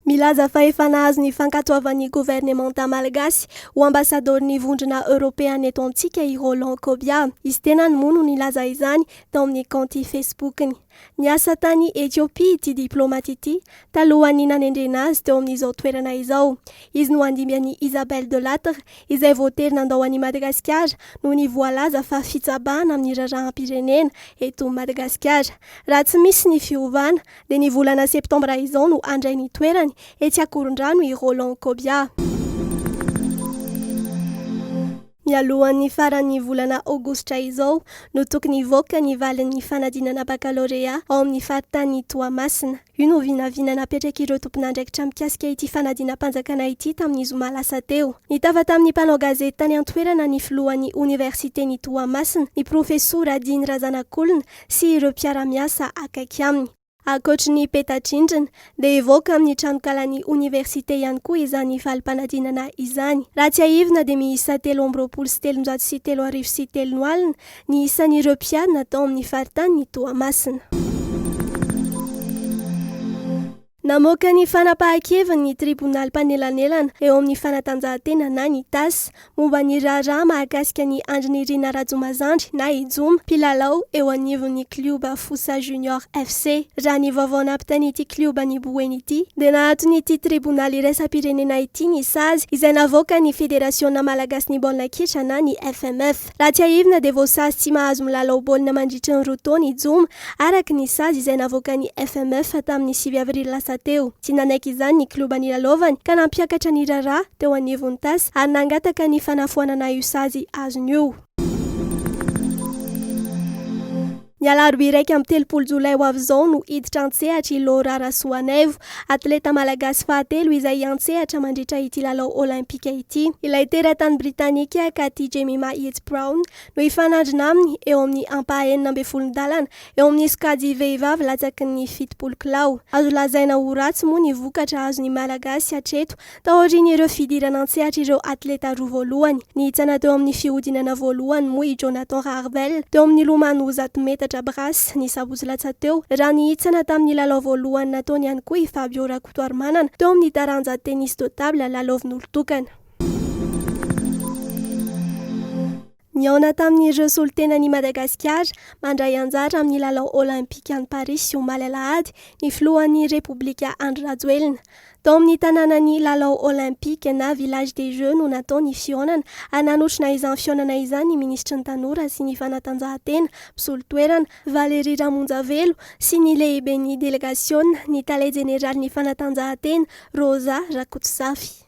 Milaza fa efa nahazo ny fankatoavan'ny governemanta malagasy ho ambasadaoron'ny Vondrona Eoropeana eto amintsika i Roland Kobia. Izy tenany moa no nilaza izany tao amin'ny kaonty Facebook-ny. Niasa tany Ethiopia ity diplaomaty ity talohan'ny nanendrena azy teo amin'izao toerana izao. Izy no handimby an'i Isabelle Delattre izay voatery nandao an'i Madagasikara noho ny voalaza fa fitsabahana amin'ny raharaham-pirenena eto Madagasikara raha tsy misy ny fiovana dia ny volana septambra izao no handray ny toerany etsy Ankorondrano i Roland Kobia. Mialohan'ny faran'ny volana aogositra izao no tokony hivoaka ny valin'ny fanadinana bakalorea ao amin'ny faritanin'i Toamasina. Io no vinavina napetrak'ireo tompon'andraikitra mikasika ity fanadinam-panjakana ity tamin'ny zoma lasa teo. Nitafa tamin'ny mpanao gazety tany an-toerana ny filohan'ny oniversiten'i Toamasina, ny profesora Diny Razanakolona, sy ireo mpiara-miasa akaiky aminy. Ankoatry ny peta-drindrina, dia hivoaka amin'ny tranonkalan'ny oniversite ihany koa izany valim-panadinana izany. Raha tsiahivina dia miisa telo amby roapolo sy telonjato sy telo arivo sy telo no alina ny isan'ireo mpiadina tao amin'ny faritanin'i Toamasina. Namoaka ny fanapahan-keviny ny tribonaly mpanelanelana eo amin'ny fanatanjahantena na ny tas, momba ny raharaha mahakasika an'i Andry Nirina Rajomazandry na i Joma, mpilalao eo anivon'ny klioba Fosa Junior FC. Raha ny vaovao nampitain'ity klioba ny Boeny ity, dia nahaton'ity tribonaly iraisam-pirenena ity ny sazy izay navoakan'ny Federasiona malagasin'ny baolina kitra na ny FMF. Raha tsiahivina dia voasazy tsy mahazo milalao baolina mandritry ny roa taona i Joma, araka ny sazy izay navoakan'ny FMF tamin'ny sivy avrily lasa teo. Tsy nanaiky izany ny klioba nilalaovany ka nampiakatra ny raharaha teo anivon'ny tas ary nangataka ny fanafoanana io sazy azony io. Ny alarobia iraika amby telopolo jolay ho avy izao no hiditra an-tsehatra i Laura Rasoanaivo, atleta malagasy fahatelo izay hiantsehatra mandritra ity lalao Olympika ity. Ilay teratany Britanika Cathy Jemima Yeats Brown no hifanandrina aminy eo amin'ny ampahaenina ambin'ny folo ndalana eo amin'ny sokajy vehivavy latsaky ny fitopolo kilao. Azo lazaina ho ratsy moa ny vokatra azon'ny Malagasy hatreto Taorian'ireo fidirana an-tsehatra ireo atleta roa voalohany, nihitsana teo amin'ny fihodinana voalohany moa i Jonathan Harvel, teo amin'ny lomano zato metatra brasse, ny sabotsy lasa teo, raha nihitsana tamin'ny lalao voalohany nataony ihany koa i Fabio Rakotoarimanana, teo amin'ny taranja tennis de table lalaovin'olon-tokana. Nihaona tamin'ireo solontenan'i Madagasikara mandray anjara amin'ny lalao Olaimpika any Parisy omaly alahady ny filohan'ny Repoblika Andry Rajoelina. Tao amin'ny tanànan'ny lalao Olaimpika na Village des Jeux no natao ny fihaonana ary nanotrona izany fihaonana izany ny minisitry ny Tanora sy ny fanatanjahantena, mpisolo toerana, Valérie Ramonjavelo sy ny lehiben'ny delegasiona, ny tale jeneralin'ny fanatanjahantena, Rosa Rakotozafy.